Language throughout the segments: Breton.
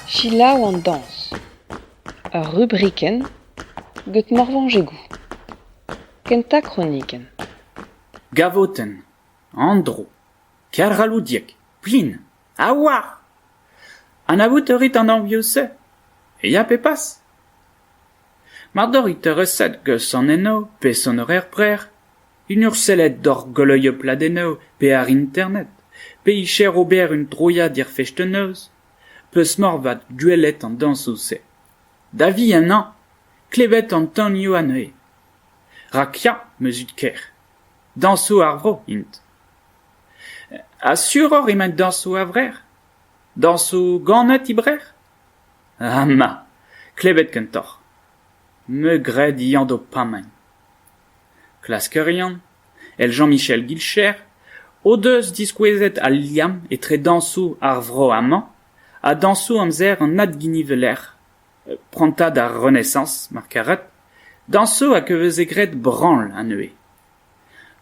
Selaou an dañs, ur rubrikenn get Morvañjegou. Kentañ kronikenn. Gavotenn, Andro, Kergalloudieg, Plin. A oa! Anavout a rit an anvioù-se ? Ya pe pas ? Ma dorrit ereset geus an env pe sonorer brec'h, un ur sellet doc'h goleuiñ ur pladennoù pe àr internet, pe icher ober un droiad er festennoz, peus moarvat gwelet an dañsoù-se. Da vihan hañ ! klevet an tanioù anezhe. Rak ya, 'm eus it ker. Dañsoù ar vro int. Ha suroc'h emaint dañsoù a-vrec'h ? Dañsoù ganet e-brec'h ? Ama ! Klevet kentoc'h. Me 'gred Yann d'ho pamaint. Klaskerion, èl Jean-Michel Guilcher, o deus diskouezet al liamm etre dañsoù ar vro amañ ha dañsoù amzer an adginivellec'h. prantad ar Renaissañs mar karet, dañsoù hag a veze graet branl anezhe.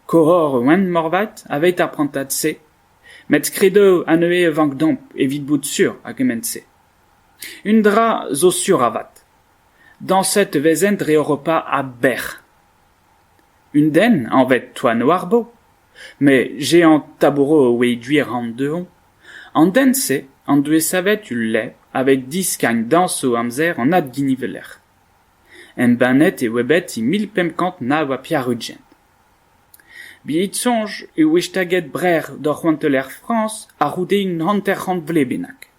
Koror Wenn moarvat aveit ar prantad-se, met skridoù anezhe a vank domp evit bout sur a gement-se. Un dra zo sur avat, dañset e vezent dre Europa a-bec'h. Un den anvet Toanouarbo, me jehan Taboro a-wezh-gwir an-dehont, an den-se en doe savet ul lez aveit diskagn dañs o amzer an adginivelec'h. Embannet e oa bet e mil pemp kant nav ha pevar-ugent. Be'it soñj e oe staget Brec'h d'ur c'hoanteller Frañs a-c'houde un hanter-c'hant vlez bennak.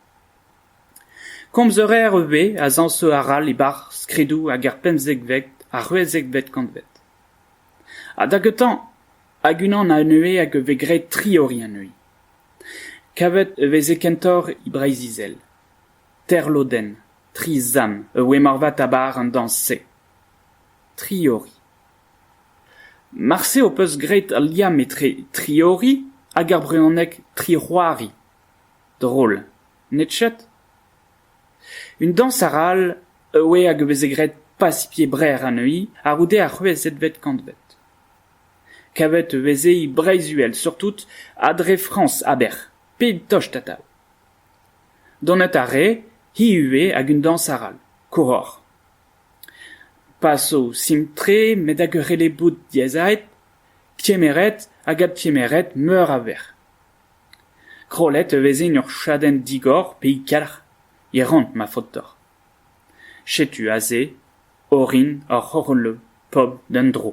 Komz a reer ivez a zañsoù arall e-barzh skridoù hag er pemzekvet ha c'hwezekvet kantved. Ha da gentañ hag unan anezhe hag a vez graet triori anezhi. Kavet e veze kentoc'h e Breizh-Izel. Terlodenn, tri zant a voe moarvat a-bar an dañs-se. Triori. Marse ho peus graet al liamm etre triori hag ar brezhoneg tric'hoari. Drol. Ned chet ? Un dañs arall a oe hag a veze graet Pacifier Brec'h anezhi a-c'houde ar c'hwezekvet kantved. Kavet e veze e Breizh-Uhel surtout ha dre Frañs a-bec'h, pep tost atav. Donet a rae hi ivez hag un dañs arall, koshoc'h. Pa so sim-tre met hag ur rele-boud diazaet, kemeret hag adkemeret meur a vec'h. Krollet e vezin ur chadenn digor pe ikalc'h e ran ma faotr deoc'h. Setu aze orin ar c'horoleu pobl d'an dro.